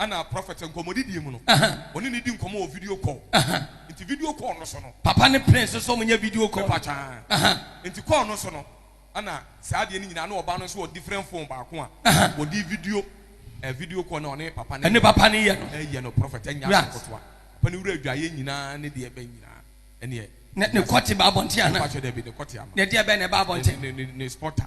Ɛna prɔfɛt nkɔmmɔdidie mu no, ɔne no di nkɔmmɔ wɔ video call. Nti video call no so no. Papa ne Prince nso wɔn nyɛ video call. Mepa kyɛw. Nti call no so no, ɛna saa adeɛ no nyinaa na ɔbaa no nso wɔ different phone baako a ɔde video eh video call na ɔne papa no yɛ. Ɛne papa no yɛ no. Ɛyɛ no prɔfɛt ɛnyɛ asɛm ketewa. Papa no wura adwaeɛ nyinaa ne deɛ ɛbɛn nyinaa ɛneɛ. Ne ne kɔte ba abɔnten anaa? Mepa kyɛw dabi ne kɔte ama. Ne deɛ ɛbɛn na ɛba abɔnten. Ne ne ne spotter.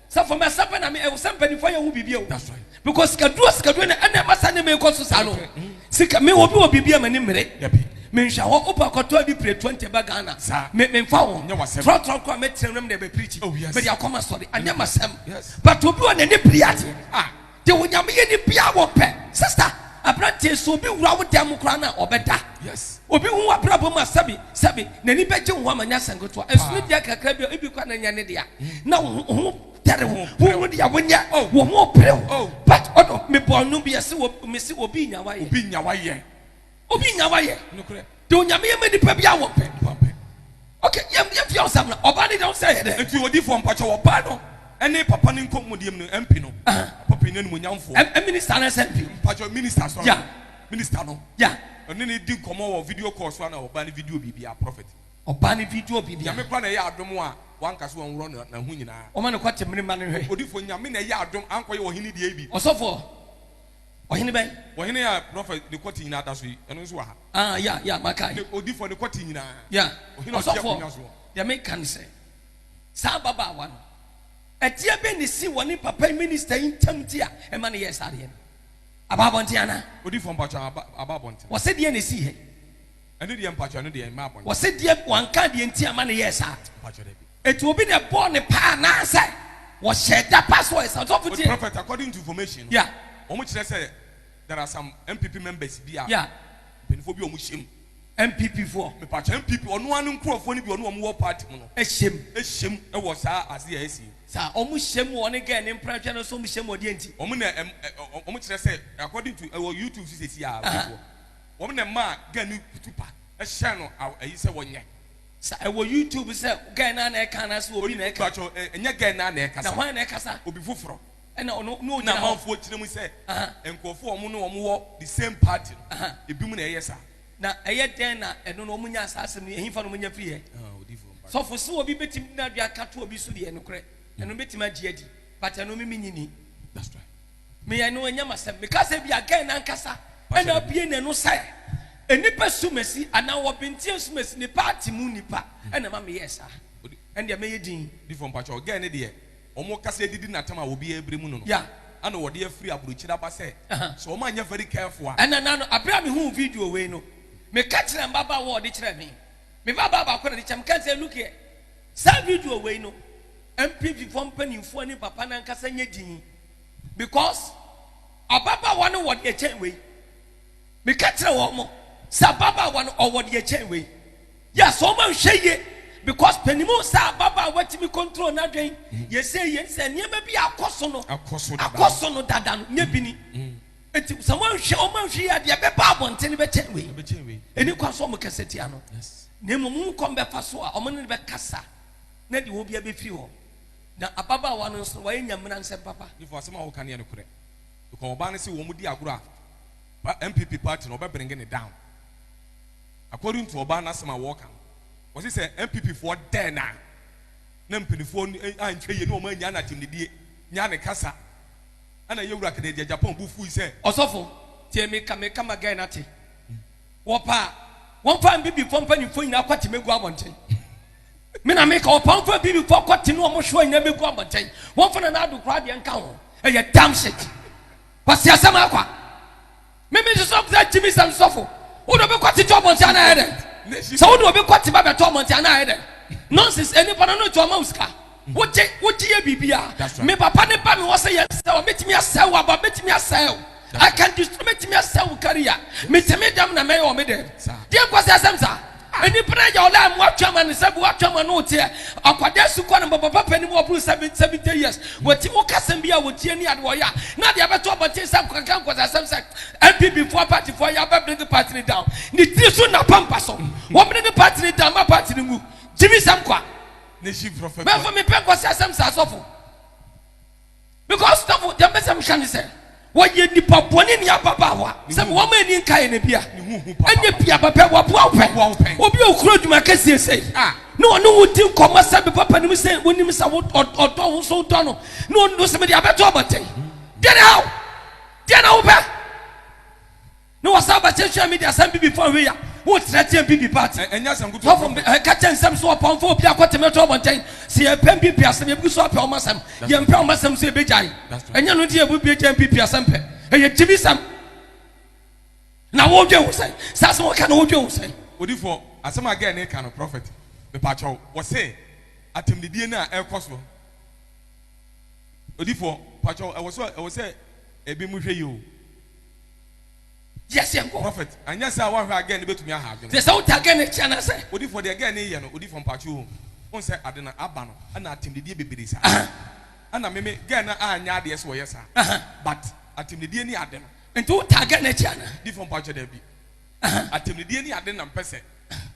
Sɛ for mɛsa pɛ na me ɛwɔ sɛ mpanyinfoɔ yɛ ho biribi o. That's right. Because sikaduro a sikaduro na ɛna ɛma saa nneɛma yi kɔ so saa no. Sika me obi wɔ biribi a m'ani mmere. Dabi. Me nhwɛ hɔ wopɛ a kɔtɔ adi pire twenty ba Ghana. Saa. Me me nfa ho. Nyɛ w'asɛm. Trɔtrɔ koraa mɛtena nwura mu na ɛbɛ preachi. Oh yes. Mede akɔ m'asɔre. Anyɛ m'asɛm. Yes. But obi wɔ n'ani biri adeɛ. Ah. De onyame yɛ ni bia wɔ pɛ. Sister abranteɛ sɛ obi wura wo dan mu koraa no a ɔbɛda. Yes. Obi hu wabrabɔ mu a sɛbi sɛbi n'ani bɛgye wo ho ama nyɛ asɛm ketewa. Ɛsono dua kakra bi a ebi koraa na nyɛ ne dea na wo ho ho tɛre wo. Wo hu dea wo nyɛ wo ho pere wo. But ɔdɔ me bɔɔ no bi ɛse wɔ me se obi nya wayɛ. Obi nya wayɛ. Obi nya wayɛ. Nokorɛ. Deɛ Onyame yɛ ma nipa biara wɔn pɛ. Wɔn pɛ. Ok yɛn yɛn fia ɔsam na ɔbaa no deɛ ɔnsɛ yɛ dɛ. Nti odifoɔ mpakyɛw ɔbaa no ɛne papa no nkɔ mu deɛm no MP no. Ahaa. Papa panin animuonyamfoɔ. M minister anaa sɛ MP. Mpakyɛw minister sorry. Yeah. Minister no. Yeah. Ɔne no di nkɔmɔ wɔ video call so ana ɔbaa no video biribiara prophet. Ɔbaa no video biribiara. Nyame koraa na ɛyɛ adom a wanka sɛ wɔnworɔ no na ho nyinaa. Wɔma no kɔ te mene mma no nhwɛ. Odifoɔ Nyame na ɛyɛ adom ankɔyɛ ɔhene deɛ bi. Ɔsɔfoɔ. Ɔhene bɛn? Ɔhene a prɔfɛt ne kwati nyinaa da so yi, ɛno nso wɔ ha. Ah, ya, ya, makae. Ne odifoɔ ne kwati nyinaa. Ya. Ɔhene a ɔte Ɔsɔfoɔ, akonnwa soɔ. deɛ meka ne sɛ, saa ababaawa no, adeɛ bɛn na ɛsii wɔ ne papa yi, minista yi ntam nti a ɛma no yɛɛ saa adeɛ no? Aba abɔnten anaa? Odifoɔ, mpakyɛw, aba, aba abɔnten. Wɔse deɛn na ɛsii hɛ? Ɛno deɛ, mpakyɛw, ɛno deɛ, ɛmmaa abɔnten. Wɔse deɛ, wɔanka adeɛ nti a ɛma no yɛɛ saa? Mpakyɛw, dabi. Eti obi na ɛbɔɔ ne paa anaasɛ wɔhyɛɛ da pa so ɛsa ɔsɔfo tie. Good prophet according to information no wɔn kyerɛ sɛ there are some NPP members bi a mpanyinfoɔ bi a wɔn hyɛ mu. NPP foɔ. Mepatwa NPP ɔno ara ne nkurɔfoɔ no bi ɔno wɔn wɔ party mu no. Ɛhyɛ mu. Ɛhyɛ mu ɛwɔ saa adeɛ a ɛsi. Saa wɔn hyɛ mu ɔne gɛɛ ne mpranhwɛ no nso wɔn hyɛ mu ɔdeɛ nti. Wɔn na ɛm ɛ wɔn kyerɛ sɛ according to ɛwɔ YouTube so sɛ si a wɔn na ɛma gɛɛ ne kutu pa ɛhyɛ no ɛyi sɛ wɔnyɛ. Sa ɛwɔ YouTube sɛ guy naa na ɛka anaasɛ obi na ɛka. Mpakyɛw ɛ ɛnyɛ guy naa na ɛkasa. Na hwan na ɛkasa? Obi foforɔ. Ɛna ɔno na ɔgyina hɔ. Ɛna amanfoɔ gyina mu sɛ. Aha. Nkorɔfoɔ a wɔn ne wɔn wɔ the same party no. Aha. Ebinom na ɛyɛ saa. Na ɛyɛ dɛn na ɛno no wɔn nyaa saa asɛm no yi? Ɛhefa na wɔn nya firi ɛ? Aha odiyifoɔ mpakyɛw. Sɔfo sɛ obi bɛtumi de n'adwene aka to obi so deɛ nokorɛ ɛno no bɛtumi agye adi but ɛno me me nyi nni. That's right. Me yɛ anuonyam asɛm. Me ka sɛ ebia Gen ankasa na abue n'ano sɛ nnipa sumasi anaa wɔ Bintia sumasi ne party mu nipa na ɛma me yɛɛ saa. Ɛndeɛ mɛyɛ din. Difoɔ mpakyɛw Gen no deɛ wɔn kasa adidi natam a obiara bere mu no no ɛna wɔde afiri abrokyire aba sɛ sɛ wɔn anyɛ very careful a. Ɛna na no abere a me huu video wei no me ka kyerɛ mbabaawa a ɔde kyerɛ me. Me ba baa baako na de kyerɛ me ka sɛ look here saa video wei no mpimfifoɔ mpaninfoɔ ne papa no ankasa nyɛ din. because ababaawa no wɔ deɛ kyɛn wei meka kyerɛ wɔn mo sɛ ababaawa no ɔwɔ deɛ kyɛn wei yes wɔn anhwɛ yie because panimu sɛ ababaawa tumi control n'adwen mm. yɛsɛ yie sɛ nneɛma bi akɔ so no akɔ so no dada no nyɛ bi ni mm. nti sɛ wɔn anhwɛ wɔn anhwɛ yie adeɛ bɛba abɔnten no bɛkyɛn wei ɛni kwan so wɔn kɛse tia no na mmom wɔn kɔn bɛfa so a wɔn ne bɛkasa na deɛ wɔn bi abɛfiri hɔ. Na ababaawa no nso, wayɛ Nyamena nsɛm papa. Nifo asɛm a woka no yɛ nokorɛ because ɔbaa no se wɔn di agorɔ a pa NPP party no ɔbɛ bringe no down according to ɔbaa no asɛm a wɔka no wɔse sɛ NPP foɔ dɛɛ no a na mpanifoɔ anhwɛ yie ne wɔn anyaa no atemnidie nyaa ne kasa ɛna yɛwura Kennedy Agyapong bo fui sɛ Ɔsɔfo, tie me ka, me ka ma guy no ate. Wɔpɛ a, wɔmfa Mbibifoɔ mpanimfoɔ nyinaa kɔte mɛgu abɔnten. Me na meka, wɔpɛ a wɔmfa Mbibifoɔ kɔte ne wɔn hyewa nyinaa mɛgu abɔnten. Wɔmfa Nana Addo koraa deɛ nka ho. Ɛyɛ dumb shit. Kwasi asɛm akwa. Me me nso sɛ Gyimi sɛm sɔfo. Wo de obi kɔte to abɔnten anaa ɛyɛ dɛn? Sɛ wo de obi kɔte ba bɛto abɔnten anaa ɛyɛ dɛn? Nonsense, nnipa no no nti wɔma wo sika. wogye wogye yɛ biribi a me papa ne ba me wɔ sɛ yɛsɛ wɔ mɛtumi asɛe wo aba mɛtumi asɛe wo I can destroy mɛtumi asɛe wo kariya metumi dɛm na mɛyɛ wɔ me dɛm deɛ nkɔ sɛ asɛm saa nnipa no agya ɔla mu atwa ma no sɛ bi watwa ma no teɛ akwadaa su kɔ no ma papa panim ɔboro seven seventy years wɔti mu kasɛm bi a wɔtie ne ade wɔyɛ a na deɛ ɛbɛto abɔnten sɛ nkɔkɛkɛ nkɔ sɛ asɛm sɛ npp foɔ party foɔ yɛ abɛbrege party no down ne tiri so na pampa so wɔmene ne party no down ma party no ngu gyimi sɛm kwa Mɛfo mepɛ nkɔsi asɛm saa sɔfo. Because sɔfo deɛ mpɛ sɛ meka ne sɛ wɔyɛ nipa bɔne ne ababaawa sɛ me wɔn ani nka yɛ na bia ɛnyɛ bia bɛpɛ wɔboa wo pɛ obi a okura adwuma kɛseɛ sɛ ah. na ɔne wo di nkɔmmɔ sɛ me papa nim sɛ wonim sɛ ɔdɔ wo so wodɔ no na ɔno sɛ mede abɛto abɔnten deɛ ne haw deɛ na wopɛ Ne wɔsan ba kyerɛkyerɛ me de asɛm bibi fa wei a wokyerɛ teɛ bibi part. Ɛnyɛ asɛm nkutu Sɔfo ɔfrɔfrɔ. ɛka kyɛ nsɛm so ɔpɔn fa obi akɔ tɛmɛ to abɔntɛn sɛ yɛpɛ npp asɛm yɛbegu so apɛ ɔmo asɛm yɛmpɛ ɔmo asɛm nso yɛbɛgyae ɛnyɛ no nti yɛbɛbue gya npp asɛm pɛ ɛyɛ gyimi sɛm na wo dwen ho sɛn saa asɛm ɔka no wo dwen ho sɛn. Odifoɔ, asɛm a girl no reka no, prophet, mepakyɛw, wɔse atɛmdidie no a ɛrekɔ so no, Odifoɔ, pakyɛw, ɛwɔ sɛ, ɛwɔ sɛ ebinom hwɛ yie o. Yes, yɛn kɔ. Prophet, anyɛ saa a woanhwɛ a girl no bɛtumi aha adwene. Te sɛ wo ta girl no akyi anaasɛ. Odifoɔ deɛ girl no reyɛ no odifoɔ mpaakye oo wohu sɛ ade no aba no ɛna atemdidie bebree saa Ahaa. ɛna meme girl no anyɛ adeɛ sɛ ɔyɛ saa Ahaa. but atemdidie ne ade no. Nti wo ta girl no akyi anaa. Difoɔ mpaakye daabi. atɛmnidie ne ade nam pɛ sɛ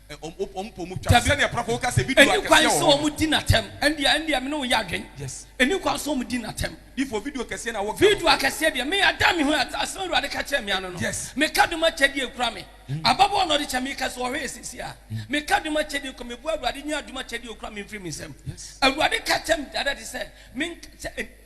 wɔn pɔ mu twa no, sɛdeɛ prɔfo ka sɛ ebi du akɛseɛ wɔ hɔ no. Ɛnni kwan sɛ wɔdi no atɛm. Ɛndeɛ, ɛndeɛ me ne wo yɛ adwene. Yes. Ɛnni kwan sɛ wɔdi no atɛm. Difoɔ, video kɛseɛ na woka no. Video akɛseɛ deɛ, me ada me ho adi, asɛm a Awurade ka kyerɛɛ me ano no. Yes. Meka dom akyɛdeɛ ekura me. Ababaawa na ɔde kyɛ me, meka sɛ ɔhwɛ yɛ seesei a. Meka dom akyɛdeɛ ekura me, meboa Awurade nyi adom akyɛdeɛ a okura me mfiri me nsam. Yes. Awurade ka kyerɛ me dada de sɛ, menka sɛ.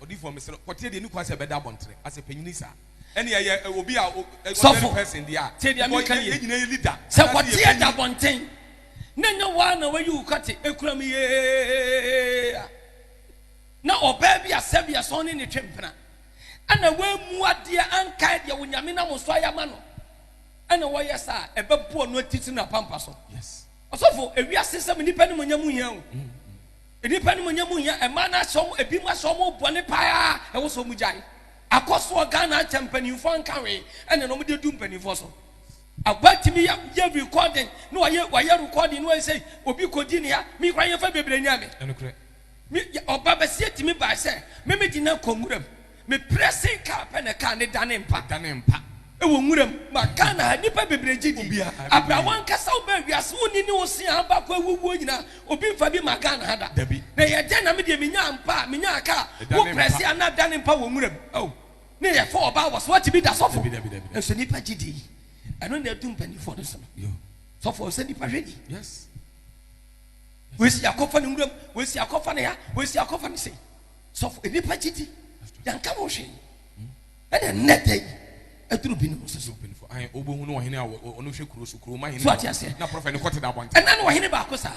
Ɔdifo a mesrɛ wo kɔteɛ deɛ ɛni kwan sɛ ɛbɛda abɔntere ase panyini saa ɛne ɛyɛ obi a ordinary person deɛ a because yɛn nyinaa yɛ leader sɛ kɔteɛ da abɔnten na ɛnyɛ wo ara na wayi wo kɔte ɛkura mu yee a na ɔbaa bi a sɛbea sɛ ɔne ne twe mpena ɛna woamu adeɛ ankae deɛ wo nyame nam so ayɛ ama no ɛna wɔyɛ saa ɛbɛboɔ no atitiri na pampa so ɔsɔfo ewiase sɛm nnipa ne mu nya mu hia o Nnipa animuonyam mu hia mmaa no asɛ wɔn ebinom asɛ wɔn wɔ bɔne paa a ɛwɔ sɛ wɔn gyae. Akɔ soɔ Ghana akyɛ mpanimfoɔ anka hwee ɛna na wɔn de du mpanimfoɔ so. Agba tumi yɛ yɛ recording na wayɛ wayɛ recording na wayɛ sɛ obi kɔ di nea mi kora yɛn fɛ bebree nya mi. Ɛnukurɛ. Mi ɔba bɛseɛ tumi baa sɛ mɛmɛ di na kɔ nwura mu. Me pressing car pɛ na car no dane mpa. Ɛdane mpa. Ɛwɔ nwura mu. Ma Ghana ha nnipa bebree gye di. Obiara gye di. Abira wankasa wobaa wiase wonni ne wo se a baako awu wuo nyinaa obi nfa bi ma Ghana ha da. Dabi. Na yɛ dɛn na me deɛ menyaa mpa a menyaa car a Ɛdane mpa. wo press a na ɛdane mpa wɔ nwura mu oh ne yɛ fa ɔbaa wɔ so wate bi da sɔfo Dabi dabi dabi dabi. nso nnipa gye di ɛno na ɛdu mpaninfoɔ no so no Yo. sɔfo ɔnsɛ nnipa hwɛ ni Yes. wei se yɛakɔ fa no nwura mu wei se yɛakɔ fa no ha wei se yɛakɔ fa no sei. sɔfo nnipa gyidi yɛnka ho hwee ɛna nnɛ da yi ɛduru binom nso so wobɛhunu ɔhene a ɔno hwɛ kuro so kuroma hene so ate aseɛ na prɔfɛ ne kɔte da abɔnte ɛna no ɔhene baako saa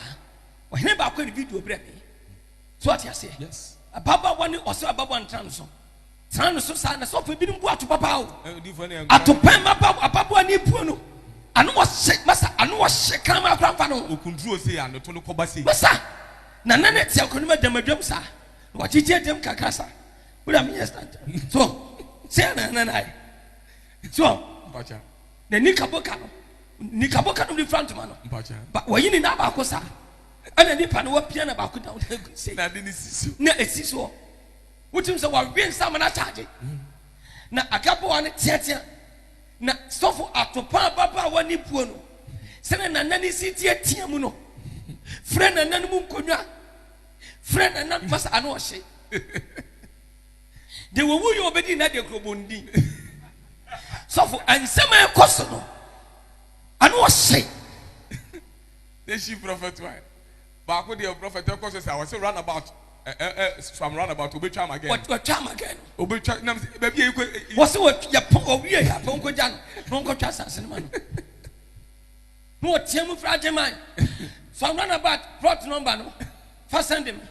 ɔhene baako ne video berɛ me so ate aseɛ yes ababaawa ne ɔsɛ ababaawa ntra no so tra no so saa na sɔfo binom bu ato papa o atopɛn maba ababaawa ne buo no ano ɔhyɛ masa ano ɔhyɛ kama akora mfa no okunduro se anoto no kɔba se masa Na na ne tia kɔnim adam adwam saa. Na wakyekye adam kakra saa. Wura mi yɛ stand. So sɛ na na na yɛ. So mpacha. Na nika boka no. Nika boka no de fura ntoma no. Mpacha. Ba wɔyi ne nan baako saa. Ɛna nipa no wapia na baako down na egu sɛ. Na de ne si so. Na esi so. Wotim sɛ wawe nsa ma na charge. Na agaboa no teatea. Na sɔfo Atopa ababaawa ne buo no sɛnea nana no si teatea mu no, frɛ nana no mu nkonnwa, frɛ nana no masa ano ɔhye. De wɔwu yɛ ɔbɛdi nna de kurobɔndi. Sɔfo nsɛm a ɛkɔ so no, ano ɔhye. They she prophet why? Baako deɛ prɔfɛt ɛkɔ so saa ɔse run about ɛ ɛ ɛ from run about obetwa ama gɛɛ no. Watwa ama gɛɛ no. Obetwa nam se baabi a ekɔ. Wɔse wɔ yɛ pɔn owie yɛ apɔn nkɔ gya no na ɔnkɔ twa asase no ma no. Na ɔteɛ mu fra agye man from run about plot number no fa sɛnde me.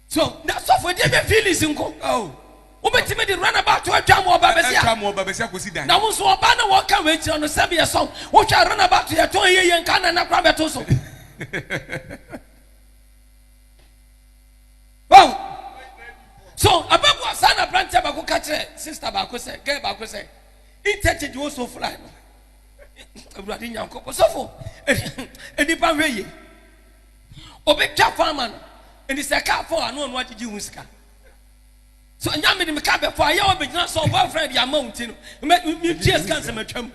So na sɔfo de bɛ feelings nko. Oh. Wobɛtumi de runabout atwa mo ɔba bɛsi a. Atwa mo ɔba bɛsi akosi dan. Na wo nso ɔba na wɔka wei kyerɛ no sɛm yɛ sɔm. Wohwɛ runabout yɛ tɔn yɛ yɛ nka nana kora bɛto so. Wow. So ababu asa na brantia bako ka kyerɛ sister bako sɛ girl bako sɛ interchange wo so fly no. Awurade Nyankopɔn sɔfo. Enipa hwɛ yie. Obi twa fo ama no. Nti sɛ kaa fo a, na ɔno agyegye ho sika. So nya me de me kaa bɛfo a, yɛ ɔbɛgyina so ɔbɔ afra de ama wo nti no, mentua sika nsɛm atwa mu.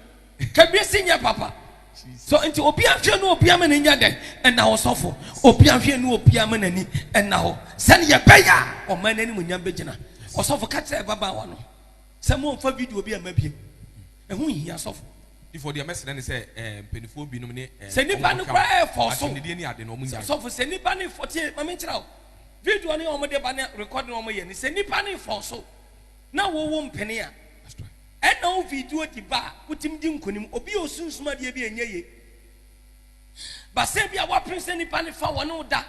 Kabie si nyɛ papa. So nti obi ahwɛ no obi ama n'ani adɛ ɛna hɔ sɔfo. Obi ahwɛ no obi ama n'ani ɛna hɔ. Sɛne yɛbɛyɛ a ɔman no animuonyam bɛgyina. Ɔsɔfo ka kyerɛ ɛbabaawa no sɛ momfa video bi amma biem. Ɛho nhia sɔfo. Difo deɛ mɛsrɛ no sɛ ɛɛ mpanifoɔ binom ne ɛɛ Sɛ nipa no koraa ɛɛfɔɔ so. Asɛmdidie ne ade no ɔmo nyae. Sɔfo sɛ nipa no fɔ tie ma me nkyerɛ wo video no yɛ ɔmo de ba ne rekɔd no ɔmo yɛ no sɛ nipa no fɔɔ so na wo wo mpene a ɛna wo video di ba a wotumi di nkonim obi a osunsum adeɛ bi a ɛnyɛ ye ba sɛ bi a wapene sɛ nipa no fa wɔne wo da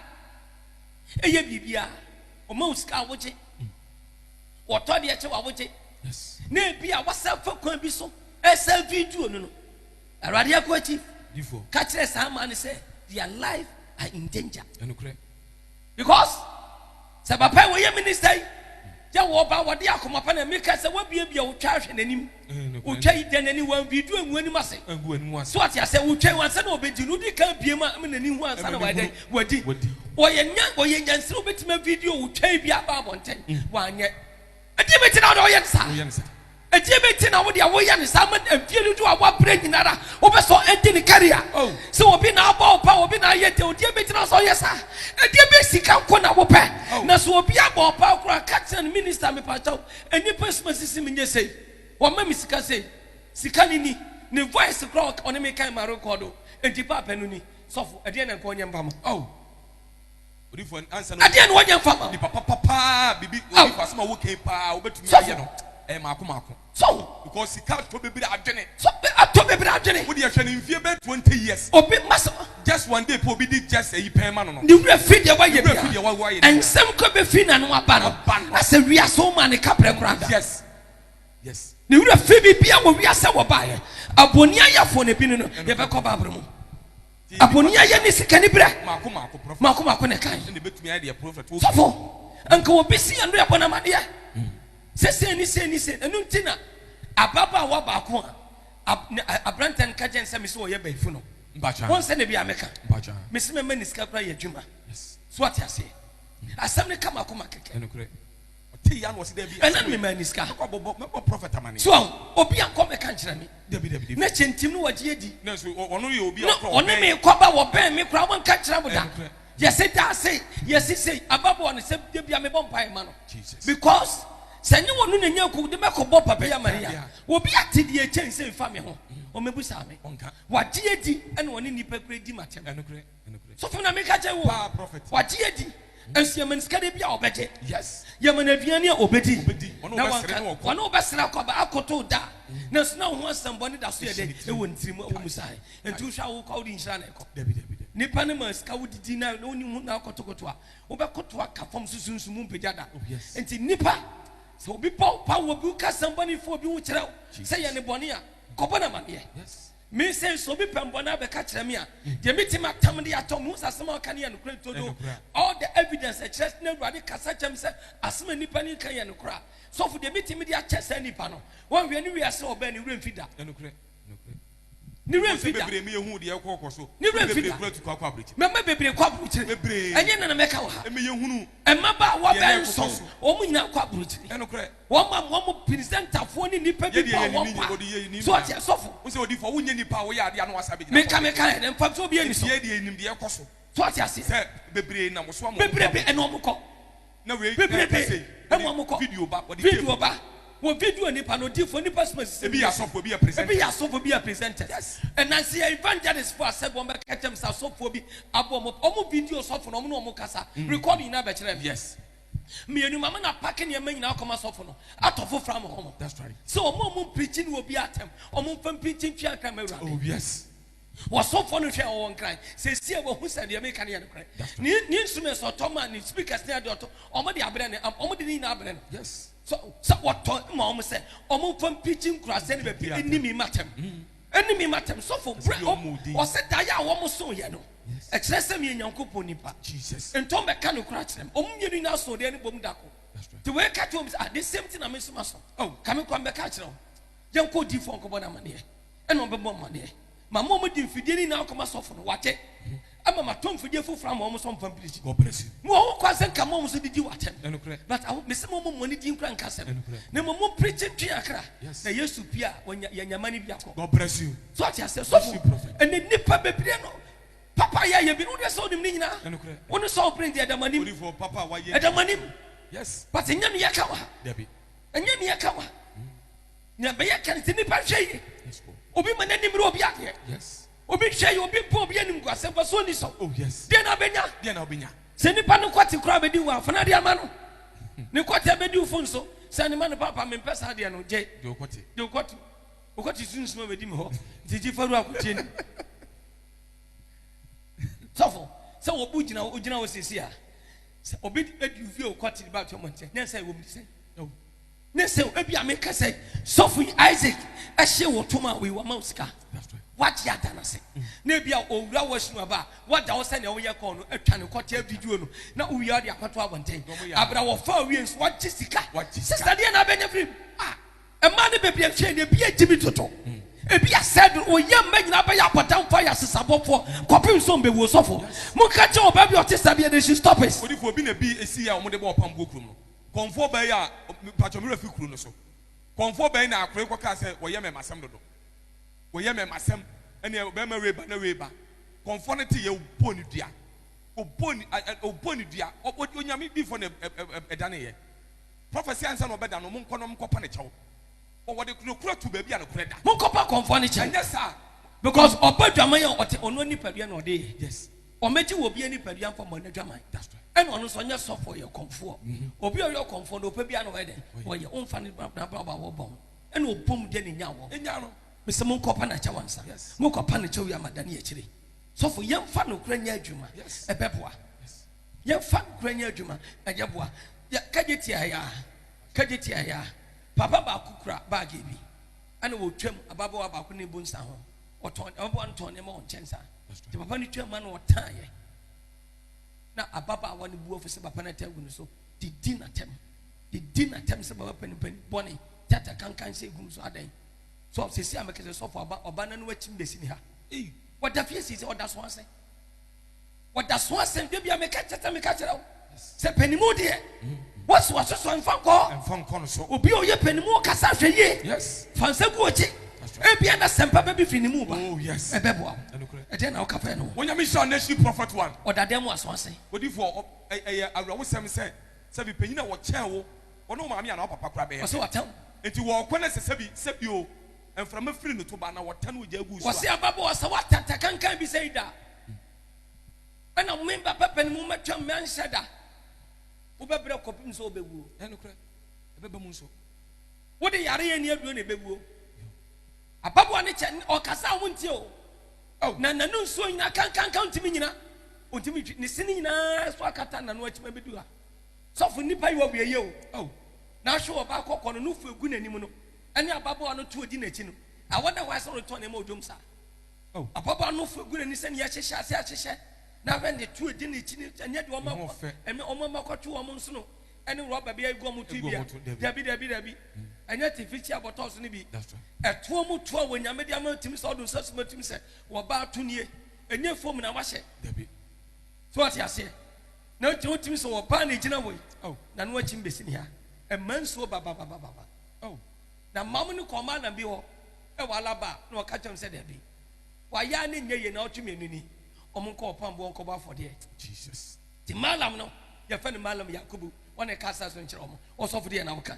ɛyɛ biribi a ɔma wo sika a wogye. Wɔtɔ deɛ kyɛ wa wogye. Na ebi a wasa fa kwan bi so ɛsa video no no. Awurade akoa chief. Difo. Ka kyerɛ saa man no sɛ their life are in danger. Ɛnukurɛ. Because sɛ papa yi wɔyɛ minister yi yɛ wɔba wɔde akoma pa na meka sɛ wabiabia wo twa ahwɛ n'anim. Otwa yi dɛn ani? Wanwie du angu anim ase. So wate asɛ? Otwa yi ansa na ɔbɛdi no, wodi kan abue mu a ɛma n'ani hu ansa na wayɛ dɛn? Wadi. Ɔyɛ nya, ɔyɛ nyansini, ɔbɛtumi avideo otwa yi bi aba abɔnten. Wanyɛ. Ɛdeɛ bɛti na wode woyɛ no saa? Ɛdeɛ bɛti na wode woyɛ no saa ma mfie dodo a wabrɛ nyinara wobɛ sɛ ɛnde ne career? Sɛ obi na abɔ wo pa, obi na ayɛ dɛn, ɔdeɛ bɛti na sɛ ɔyɛ saa? Ɛdeɛ bɛ sika nko na wopɛ? Na sɛ obi abɔ wo paa koraa, ka kyerɛ no, Minister mepakyɛw, Nnipa suma sisi me nyɛ sei, wɔma me sika sei, sika no ni, ne voice koraa a ɔne me kan ma rekɔɔdo, enti paapa no ni. Sɔfo, ɛdeɛn na nka ɔnyɛ mfa ma wo? Ɛdeɛn na ɔnyɛ mfa ma wo? Sɔfo, sɔfo, atɔ bebree adwene. Obi, masa. Just one day pɛ obi di just ayi pɛn ma no no. Ne werɛ fi deɛ wayɛ biara. Nsɛm kɔ bɛfiri n'ano aba no, na sɛ wiase wo maa no kaberɛ koraa da. Ne werɛ fi biribiara wɔ wiase a wɔbaeɛ. Abɔni ayɛfoɔ na ebinom no yɛbɛkɔ Bible mu. Abɔni ayɛ ne sika ne berɛ. Mako mako na ɛkae. Sɔfo, nka obi si yɛn no yɛbɔ no amadeɛ. Sɛ sei ne sei ne sei. Ɛno nti na ababaawa baako a aberanteɛ no ka kyerɛ no sɛ me sɛ ɔyɛ bayifu no. Mpakyɛw. Wɔn sɛ na bi a mɛka. Mpakyɛw. Mesi mɛ mɛ ni sika kura yɛ adwuma. Yes. So ate aseɛ. Mm. Asɛm ne kama koma kɛkɛ. Ɛnukurɛ. Ɔte ya na ɔsi dɛbi. Ɛna mi mɛ ni sika. Mɛkɔ abɔbɔ mɛbɔ prɔfɛt amane. So ahu obi akɔ mɛka nkyerɛ mi. Dɛbi dɛbi dɛbi. Na kyɛ ntim no wɔgye adi. Na so ɔno yɛ obi a ɔkɔ ɔbɛn. Na ɔne mi kɔ ba wɔbɛn mi kura wɔn nka nkyerɛ mo da. Ɛnukurɛ. Yɛsi daa sei yɛsi sei ababoɔ no sɛ dɛbi a mebɔ mpa yɛ ma no. Jesus. Because. Sɛ ɛnyɛ wɔn no na nya akuw de mɛkɔbɔ Papa yi amanneɛ a, obi ate deɛ ɛkyɛn sei mfa me ho? Ɔmmɛbisa me. Wagye adi na ɔne nnipa kura di m'atɛm. Sɔfo, na meka kyerɛ wo, wagye adi, nso yɛma no sika da bi a ɔbɛgye, yɛma no aduane a ɔbɛdi, na wanka, wɔne wo bɛsra kɔ aba akotow da, nanso na wo ho asɛmmɔne da so yɛ dɛ wɔ ne tirim, ɛwom sɛ ahe, enti wohwɛ a wokɔ a wode nhyira na ɛkɔ? Nnipa no maa sika wodidi na wonni ho na akotokoto a, Wobɛkoto aka fam so sunsum mu mpagya da. Oh, Enti nnipa, sɛ obi bɔ wo paa, obi ka asɛm bɔne fa obi ho kyerɛ wo sɛ yɛ ne bɔne a, kɔbɔ no amanneɛ. Me sɛ nso obi pɛ mbɔne abɛka kyerɛ me a, mm. deɛ metumi atam de atɔ mu sɛ asɛm a ɔka no yɛ nokorɛ todo. All the evidence ɛkyerɛ sɛ na Awurade kasa kyɛm sɛ asɛm a nnipa no ka yɛ nokorɛ a, sɔfo deɛ metumi de akyɛ saa nnipa no. Wɔnhwɛ ne wiase ɔbɛn ne werɛ mfi da. Ne werɛ mfi da. Ne werɛ mfi da. Mma bebree kɔ aburokyire. Ɛnyɛ na na mɛka wɔ ha. Mmabaawa bɛyɛ nson, wɔn nyinaa kɔ aburokyire. Wɔn a wɔn pirisɛntafoɔ ne nnipa bi bɔ wɔn paa. So ɔte asɔfo. Meka meka yɛ dɛ mfa nso obi ani so. So ɔte aseɛ. Bebrebe ɛna wɔn kɔ. bebrebe ma wɔn kɔ video ba wɔ video nipa no odiifo nipa suma sisi ebi yɛ asɔfo ebi yɛ presenters ebi yɛ asɔfo ebi yɛ presenters ɛnansi yɛ evangelist fo asɛ wɔn bɛ kɛkyɛm sɛ asɔfo bi abɔ wɔn wɔn video sɔfo na wɔn ne wɔn kasa mm. record nyinaa bɛ kyerɛ mi yes mmienu maame na apaki nneɛma nyinaa kɔma sɔfo no atɔ foforɔ ama wɔn sɛ wɔn a wɔn mpirikyi ne obi atɛm wɔn mfa mpirikyi ntwi ankara ma awurade oh yes. Ɔsomfoɔ no hwɛɛ wɔn kra, seesei wɔahu sɛ deɛ meka no yɛ nokorɛ. Ne, ne instruments ɔtɔ ma, ne speakers ne adeɛ ɔtɔ, wɔn de abrɛ no, wɔn de ne nyinaa abrɛ no. Yes. Sɛ, sɛ wɔtɔ ma wɔn sɛ, wɔn mfa mpikyi nkuraase ne baabi ɛni mi matam. Ɛni mi matam. Sɔfo, brɛ, ɔsɛ daeɛ a wɔn so yɛ no, ɛkyerɛ sɛ meyɛ Nyankopɔn nipa. Jesus. Nti wɔn bɛka nokorɛ akyerɛ me. Wɔn mmienu nyinaa so deɛ no bom dako. Nti wei ka kyerɛ wɔn sɛ, ah, the same thing na me nso ma so. Oh, ka me kɔ, mɛka akyerɛ wɔn. Yɛnkɔ odiifoɔ nkɔbɔ no amaneɛ. ɛna ɔbɛbɔ mmaneɛ ma mo a mode mfidie no nyinaa kɔma sɔfo no wate ama matɔ mfidie foforɔ ama wɔn sɛ ɔmfa mpirikyi mo wɔ ho kwan sɛ nka mo nso didi wɔ atɛm but aho mese mo mo mmɔne din kora nka asɛm na mmom mo mpirikyi ntwe akra na yesu pie a yɛnyama no bi akɔ so ate aseɛ sɔfo ɛne nnipa bebree no papa yɛ yɛ bi no wodeɛ sɛ wonim ne nyinaa wo ne sɛ wopere deɛ ɛdamanim ɛdamanim but ɛnyɛ ne yɛka wa ɛnyɛ ne yɛka wa Nea ɛbɛyɛ ka no sɛ nnipa nhwɛ yie. Obi ma n'ani mmere obi adeɛ. Obi nhwɛ yie, obi mpo obi animguasɛm, mfasoɔ nni so. Oh, deɛ na ɔbɛnya. Sɛ nnipa no kɔte koraa bɛdi wo afana de ama no. Ne kɔte bɛdi wo fo nso. Sɛ ne ma no papa mempɛ saa deɛ no gye. Deɛ ɔkɔte. Deɛ ɔkɔte. Ɔkɔte sunsum a bɛdi me hɔ. Nti gye faru akotie ni. Sɔfo, sɛ wɔbu gyina wo, ogyina wo sisi a, sɛ obi adi wo fie ɔkɔte de ba atwa mɔnkyɛ, nyansa ɛwɔ mu de sɛn? Ne sɛ ebi a meka sɛ sɔfo yi Isaac ɛhyɛ wɔ tom a wei wama wo sika wagye ada no ase mm. na ebi a owura wɔ sinu aba wada wo sɛ nea woyɛ kɔɔ no atwa ne kɔtɛ video no na wowie ɔde akɔto abɔnten abira wɔfa awie nso wagye sika sista deɛ na abɛnya firim a ɛmaa ne bebree nhwɛ ne ebi agye mi toto mm. ebi asɛ do oyɛ mma nyinaa bɛyɛ abɔdanfo ayɛ asesabɔfoɔ kɔpem so mbɛwuo sɔfo mo nka kyɛ ɔbaa bi ɔte saa bi ɛde nsi stop it. odifo obi na bi esi yɛ a wɔn de bɔ ɔpam buo kurom no. Kɔmfoɔ bɛn a, mpakyɛ mowura fi kuro no so, kɔmfoɔ bɛn na akore kɔ kaa sɛ wɔyɛ mɛmasɛm dodo, wɔyɛ mɛmasɛm, ɛneɛ ɔbɛrima wei ba na wei ba, kɔmfoɔ no teyɛ ɔbɔɔ no dua, ɔbɔɔ no, a, a, ɔbɔɔ no dua, ɔ, ɔ, Onyame difoɔ na ɛ, ɛ, ɛ, ɛdaneeɛ, prophecy ansa na ɔbɛda no, monkɔ na monkɔpa no kyɛw, ɔ, wɔde nokorɛ to baabi a nokorɛ da. Monkɔpa kɔmfoɔ no kyɛw, ɛnyɛ saa, because ɔbɔ dwaman a ɔte, ɔno nipadua na ɔde yɛ. Yes. Wɔbɛgye wɔ obi anipadua mfa mmɔ n'adwaman. Ɛna ɔno nso ɔnyɛ sɔfoɔ, ɔyɛ ɔkɔmfoɔ. Obi a ɔyɛ ɔkɔmfoɔ no, ɔpɛ biara na ɔyɛ dɛn? Ɔyɛ. Womfa ne bra bra bra wɔ bɔn. Ɛna ɔbɔ mu deɛ na ɛnya wɔ. Ɛnya no. Mesɛ monkɔpa no kyɛw ansa. Mokɔpa no kyɛw yi ama dane akyire. Sɔfo, yɛmfa nokorɛ nyɛ adwuma. Ɛbɛboa. Yɛmfa nokorɛ nyɛ adwuma. Ɛyɛ boa. Yɛ, kagye tiaa yɛ a. Kagye tiaa yɛ a. Papa baako kura baage bi. Ɛna wɔtwam, ababaawa baako ne bu nsa ho. Ɔtɔn ɔboa no tɔn nneɛma wɔ nkyɛn saa. Nti papa no twaa ma na ɔtaeɛ. Na ababaawa no bu afu sɛ papa no ata agu no so de di n'atɛm. De di n'atɛm sɛ baba panipani bɔne tata kankan sɛ egu no so adɛn. So sisi a mekasa sɔfo aba ɔba no no akyi mbɛsi ne ha. Wɔda fie sisi ɔda so ase. Wɔda so asɛm dwa bia meka kyerɛ sɛ meka kyerɛ wo sɛ panimu deɛ wɔso asosɔ mfa nkɔ mfa nkɔ no so obi a ɔyɛ panimu ɔkasa hwɛ yie yes fa nsa gu ɔkyi ebia na sɛmpa bɛbi fi ne mu ba oh yes ɛbɛboa wo ɛdeɛ na woka fɛ no wɔnyame hyira nation prophet one ɔdadɛ mu aso ase odifoɔ ɛyɛ awerɛhosɛm sɛ sɛ bi panyin a wɔkyɛn wo wɔne wo maame anaa papa kora bɛyɛ ɔsɛ wɔatɛw nti wɔɔkɔ no sɛ sɛbi sɛbi o Mframa firi no to ba na wɔtɛ no ogya gu so a. Wɔse ababaawa sɛ woatɛtɛ kankan bi sei da a, ɛna me ba bɛbɛ ne mu mɛtwam mɛnhyɛ da. Wobɛbrɛ kɔpem sɛ wobɛwuo. Ɛnokorɛ, ɛbɛba mu nso. Wode yareɛ ani aduro na ɛbɛwuo. Ababaawa no kyɛ, ɔkasa a wontie o. Oh. Na n'ano nsuo nyina kankanka ntumi nyina. Ɔntumi ntwi, ne sini nyinaa so akata n'ano akyima bɛdu ha. Sɔfo nnipa yi wɔwieyɛ o. Oh. Na ahwe wɔ ba akɔkɔ no, no fo ɛgu n'anim no. ɛne ababaawa no to adi n'akyi no, awɔ na wɔayɛ sɛ ɔretɔn nneɛma wɔ dwom saa. Oh. Ababaawa no fo gu n'ani sɛ nea ɛhyehyɛ ase ahyehyɛ na ahwɛ ne to adi n'akyi no ɛnyɛ deɛ wɔn akɔ ɛmɛ wɔn ama kɔto wɔn nsono ɛne rɔba bi agu wɔn to bi a dabi dabi dabi ɛnyɛ tifikyia bɔtɔɔ so no bi ɛtoɔ mu toɔ wɔ nyame de ama tumi sɛ ɔdo nsa suma tumi sɛ wɔba ato nie ɛnyɛ fom na wahyɛ dabi so ɔte aseɛ na nti wotumi sɛ wɔba na egyina wɔ yi na no akyi mbɛsi ne ha ɛma nsuo bababababa Oh, na Mom no kɔɔ Malam bi hɔ wɔ Alaba na ɔka kyerɛɛ no sɛ dabi, wayɛ ara na ɛnyɛ yie, naawɔtwe mmienu ni, wɔnkɔ ɔpam boɔ nkɔbɔ afɔdeɛ. Jesus. Nti Malam no, yɛfrɛ no Malam Yakubu, wɔn na ɛka asaase no kyerɛ wɔn, ɔsɔfo deɛ na ɔka.